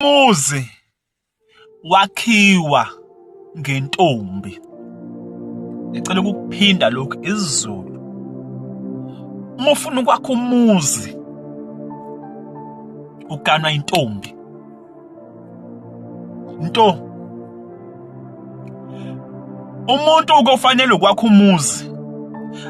Umuzi wakhiwa ngentombi. Ngicela ukuphinda lokhu isiZulu. Uma ufuna ukwakha umuzi uganwa intombi. Nto Umuntu ukofanele ukwakha umuzi.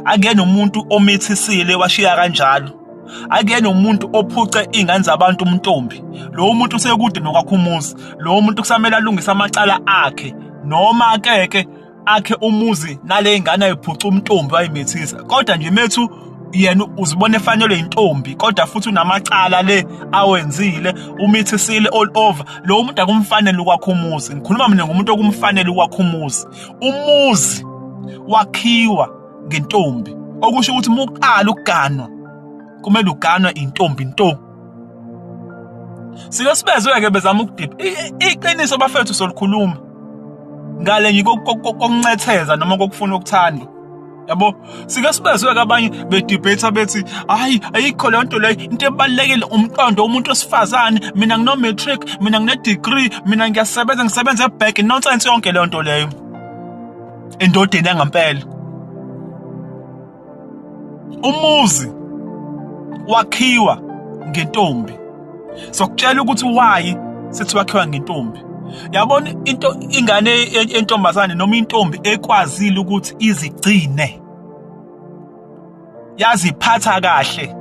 Akuyena umuntu omithisiile washiya kanjalo. akuyena umuntu ophuce ingane zabantu umntombi lowo muntu usekude nokwakho umuzi lowo muntu kusamele alungise amacala akhe noma ke ke akhe umuzi nale ngane ayiphuca umntombi wayimethisa kodwa nje methu yena uzibona efanelwe intombi kodwa futhi unamacala le awenzile umithisile all over lo muntu akumfanele ukwakho umuzi ngikhuluma mina ngomuntu okumfanele ukwakho umuzi umuzi wakhiwa ngentombi okusho ukuthi uma uqala ukuganwa kumele uganwe intombi nto sike sibezwe-ke bezama ukudipha iqiniso bafethu solikhuluma ngale nje kokuncetheza noma kokufuna ukuthanda yabo sike sibezwe-ke abanye bedibhetha bethi hhayi ayikho leyo nto leyo into ebalulekile umqondo womuntu wesifazane mina ngino-matric mina ngine-degree mina ngiyasebenza ngisebenza ebheki nonsense yonke leyo nto leyo endodeni yangampela umuzi wakhiwa ngentombi sokutshela ukuthi wayi sithi wakhiwa ngentombi yabona into ingane yentombazane noma intombi ekwazile ukuthi izigcine yaziphatha kahle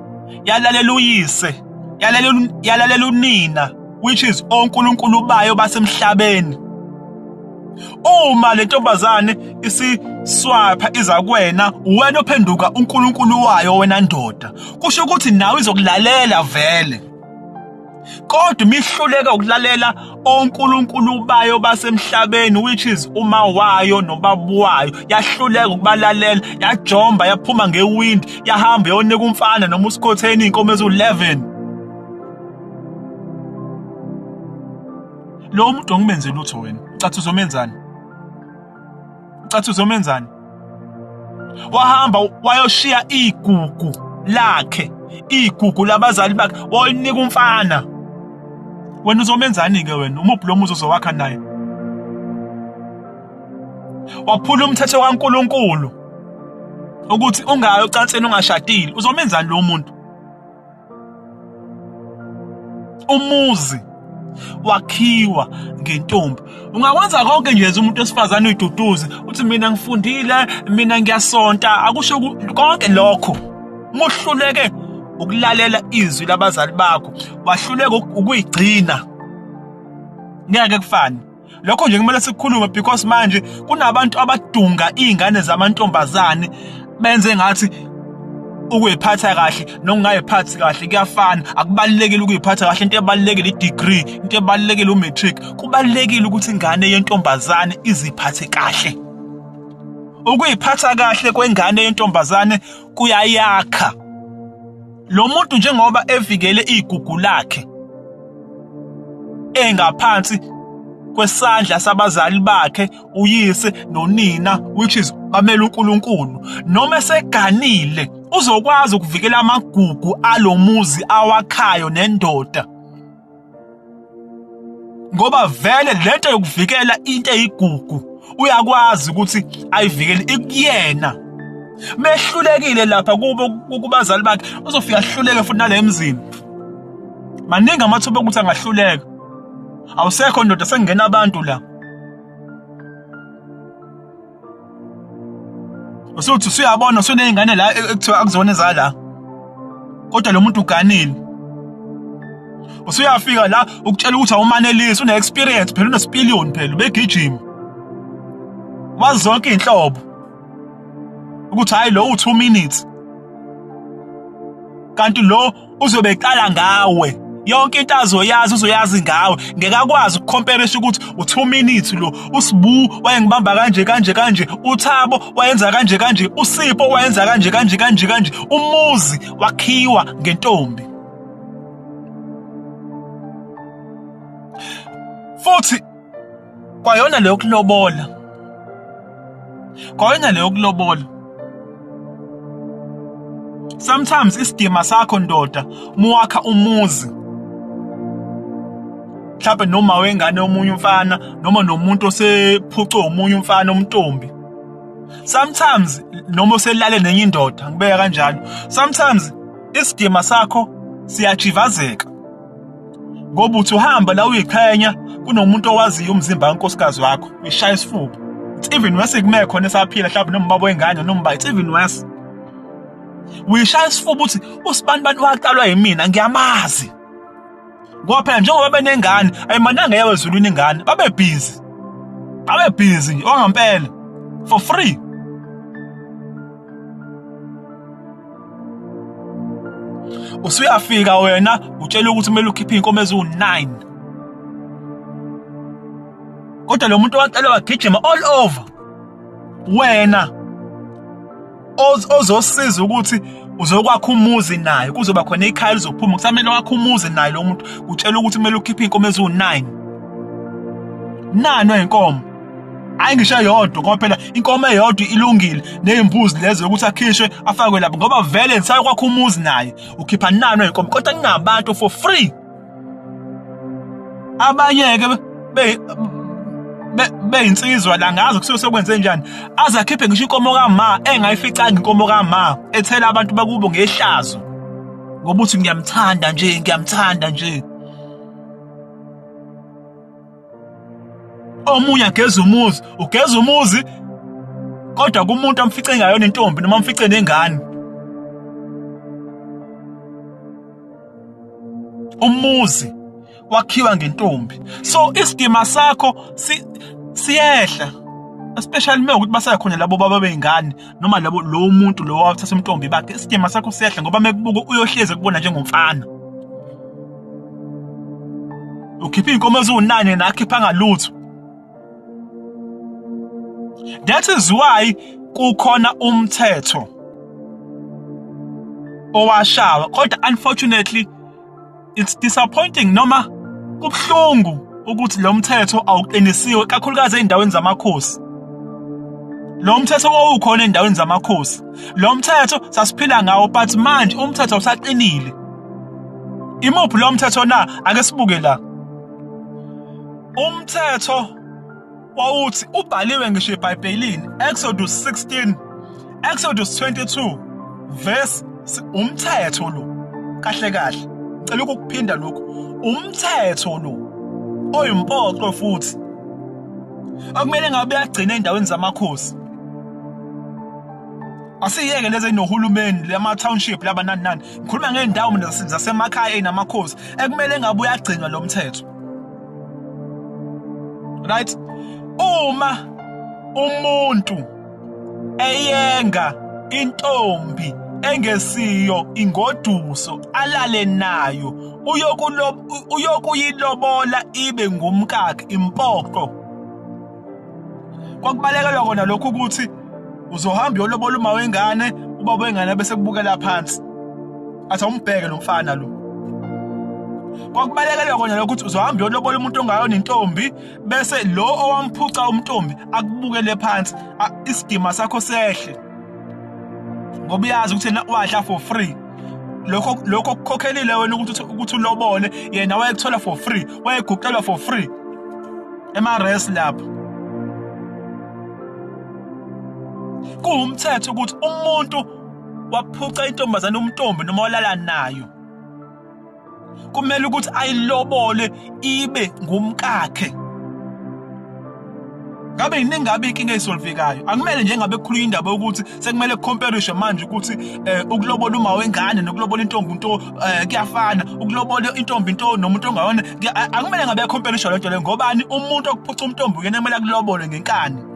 yalalela uyise yalalela yalalela unina which is onkulunkulu bayo basemhlabeni uma le ntombazane isiswapha iza kuwena wena ophenduka uNkulunkulu wayo wena ndoda kusho ukuthi nawe izokulalela vele kodwa imihluleka ukulalela onkulunkulu bayo basemhlabeni which is uma wayo nobabu wayo yahluleka ukubalalela yajomba yaphuma ngewindi yahamba yonika umfana noma usikhotheni inkomo ezu11 lo muntu ongimenze lutho wena cathi uzomenzani ucathi uzomenzani wahamba wayoshiya igugu lakhe igugu labazali bakhe walinika umfana wena uzomenzani ke wena umuphi lo muzi uzowakha naye waphula umthetho kaNkuluNkulu ukuthi ungayi ocansini ungashadile uzomenzani lo muntu umuzi wakhiwa ngentombi ungakwenza konke nje umuntu wesifazane uyiduduze uthi mina ngifundile mina ngiyasonta akusho konke lokho muhluleke ukulalela izwi labazali bakho wahluleka ukuyigcina ngeke kufane lokho nje kumele sikhulume because manje kunabantu abadunga izingane zamantombazane benze ngathi ukuyiphatha kahle nokungayiphathi kahle kuyafana akubalekile ukuyiphatha kahle into ebalekile i-degree into ebalekile u-matric kubalekile ukuthi ingane yentombazane iziphathe kahle ukuyiphatha kahle kwengane yentombazane kuyayakha lo muntu njengoba evikele igugu lakhe engaphansi kwesandla sabazali bakhe uyise nonina which is bamele uNkulunkulu noma eseganile uzokwazi ukuvikela amagugu alomuzi awakhayo nendoda ngoba vele lento yokuvikela into eyigugu uyakwazi ukuthi ayivikele ikuyena mehlulekile lapha kubo kubazali bakhe uzofika ahluleke futhi nale mzini maningi amathuba okuthi angahluleka awusekho ndoda sekungena abantu la usuthi usuyabona usuney'ngane la e-, ekuthiwa akuzona ezala kodwa lo muntu uganile usuyafika la ukutshela ukuthi awumanelisi une-experience phela unesipiliyoni phela ubegijima wazi zonke iy'nhlobo ukuthi hhayi lo u-two minutes kanti lo uzobe eqala ngawe yonke into azoyazi uzoyazi ngawe ngeke akwazi ukukhompelesha ukuthi u-2 minutes lo usibu wayengibamba kanje kanje kanje uthabo wayenza kanje kanje usipho wayenza kanje kanje kanje kanje umuzi wakhiwa ngentombi futhi kwayona leyo kulobola kwayona leyo kulobola sometimes isidima sakho ndoda muwakha umuzi mhlawumbe noma wengane omunye umfana noma nomuntu osephucwe omunye umfana omntombi sometimes noma uselale nenye indoda ngibeka kanjalo sometimes isidima sakho siyajivazeka ngoba uthi uhamba la uyiqhenya kunomuntu owaziyo umzimba kankosikazi wakho uyishaya isifuba it's even worse kume khona esaphila mhlawumbe nombaba wengane nomba it's even worse uyishaya isifuba uthi usibani bantu waqalwa yimina ngiyamazi ngoba phela njengoba benengane ayimananga yawe ezulwini ingane babe busy babe busy nje ongampela for free usuyafika wena utshela ukuthi kumele ukhiphe inkomo eziwu9 kodwa lo muntu wacela wagijima all over wena ozosiza ukuthi uzokwakha umuzi naye kuzoba khona ikhaya lizophuma kusamele wakhe umuzi naye lo muntu utshela ukuthi kumele ukhiphe inkomo eziwu9 nani wenkomo hayi ngisho eyodwa ngoba phela inkomo eyodwa ilungile nezimbuzi lezo yokuthi akhishwe afakwe lapho ngoba vele ngisayo kwakho umuzi naye ukhipha nano inkomo kodwa ninabantu for free abanye ke be beyinsizwa la ngazi kusuke sekwenze njani azakhiphe ngisho inkomo kama engayificanga inkomo kama ethela abantu bakubo ngehlazo ngoba uthi ngiyamthanda nje ngiyamthanda nje omunye ageza umuzi ugeza umuzi kodwa kumuntu amfice ngayo nentombi noma amfice nengane umuzi wakhiwa ngentombi so isidima sakho si siyehla especially uma ukuthi basakhona labo baba beyingane noma labo lo muntu lo wathatha umntombi bakhe isidima sakho siyehla ngoba mekubuka uyohleze kubona njengomfana ukhipha inkomo eziwunane nakhipha ngalutho that is why kukhona umthetho owashawa kodwa unfortunately it's disappointing noma kubhlungu ukuthi lo mthetho awuqinisiwe kakhulukazi ezindaweni zamakhosi lo mthetho owukhona ezindaweni zamakhosi lo mthetho sasiphila ngawo but manje umthetho usaqinile Imuphi lo mthetho na? Ake sibuke la. Umthetho wawuthi ubhaliwe ngisho eBhayibhelini Exodus 16 Exodus 22 verse umthetho lo kahle kahle cela ukuphinda lokhu umthetho lo oyimpoqo futhi akumele ngabe uyagcina endaweni zamakhosi asiyeke lezi eyinohulumeni lama-township laba nani nani ngikhuluma ngey'ndawo mina zase- zasemakhaya ey'namakhosi ekumele ngabe uyagcinwa lo mthetho right uma umuntu eyenga intombi engesiyo ingoduso alale nayo uyokulo- uyokuyilobola ibe ngumkakhe impoqo kwakubalekelwa kona lokhu ukuthi uzohamba uyolobola uma wengane uba wengane bese kubukela phansi athi awumbheke lo mfana lo kwakubalekelwa kona lokuthi uzohamba uyolobola umuntu ongayo nentombi bese lo owamphuca umntombi akubukele phansi isidima sakho sehle ngoba uyazi ukuthi yena wadla for free lokho lokho kukhokhelile wena ukuthi ukuthi ulobole yena wayekuthola for free wayeguqelwa for free emares lapho kuwumthetho ukuthi umuntu waphuca intombazane umntombi noma walala nayo kumele ukuthi ayilobole ibe ngumkakhe ngabe yini engabe inkinga esolvekayo akumele nje ngabe kukhulunywa indaba yokuthi sekumele kucomparishwe manje ukuthi eh, ukulobola uma wengane nokulobola intombi into eh kuyafana ukulobola intombi into nomuntu ongayona akumele ngabe compare isho lento le ngobani umuntu okuphuca umntombi uyena kumele kulobole ngenkani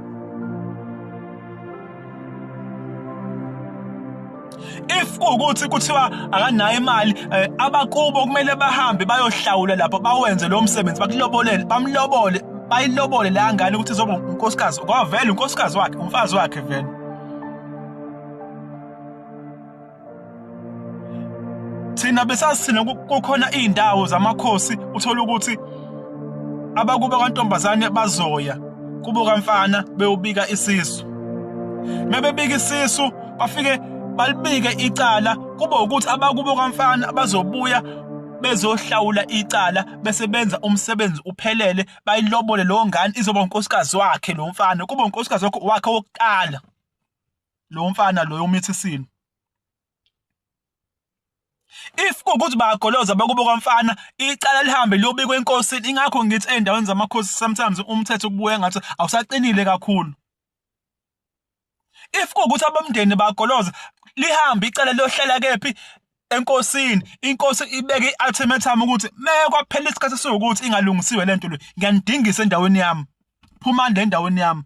if kuwukuthi kuthiwa akanayo imali eh, abakubo kumele bahambe bayohlawula lapho bawenze lo msebenzi bakulobolele bamlobole bayilobole la ngane ukuthi zoba unkosikazi kwavela unkosikazi wakhe umfazi wakhe vele thina besasithina kukhona iy'ndawo zamakhosi uthole ukuthi abakubo kantombazane bazoya kubo kamfana bewubika isisu mebebika isisu bafike balibike icala kube ukuthi abakubo kamfana bazobuya bezohlawula icala bese benza umsebenzi uphelele bayilobole leyo ngane izoba unkosikazi wakhe lo mfana kube unkosikazi wakhe wokuqala lo mfana loyo umithisini if kukuthi bagoloza bakubo kwamfana icala lihambe liyobikwa enkosini ingakho ngithi endaweni zamakhosi sometimes umthetho kubuye ngathi awusaqinile kakhulu if kukuthi abomndeni bagoloza lihambe icala liyohlala kephi enkosini inkosi ibeke i-ultimatum ukuthi mekwaphela isikhathi sokuthi ingalungisiwe lento le ngiyanidingisa endaweni yami phumani le ndaweni yami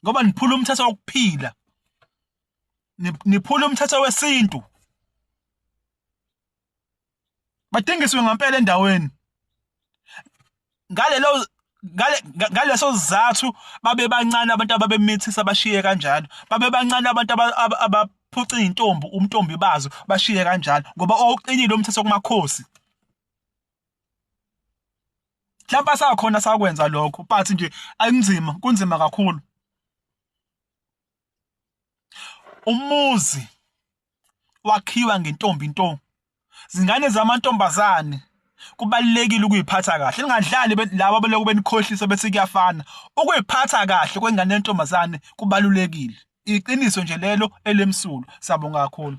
ngoba niphula umthetho wokuphila niphula umthetho wesintu badingiswe ngempela endaweni ngalelo ngaleso sizathu babe bancane abantu ababemithisa bashiye kanjalo babe bancane abantu abaphuca izintombi umntombi bazo bashiye kanjalo ngoba oqinile umthetho kumakhosi mhlawumbe asakhona sakwenza lokho but nje akunzima kunzima kakhulu umuzi wakhiwa ngentombi nto zingane zamantombazane kubalekile ukuyiphatha kahle lingadlali laba beloku benikhohlisa bese kuyafana ukuyiphatha kahle kwengane yentombazane kubalulekile iqiniso nje lelo elemsulo sabonga kakhulu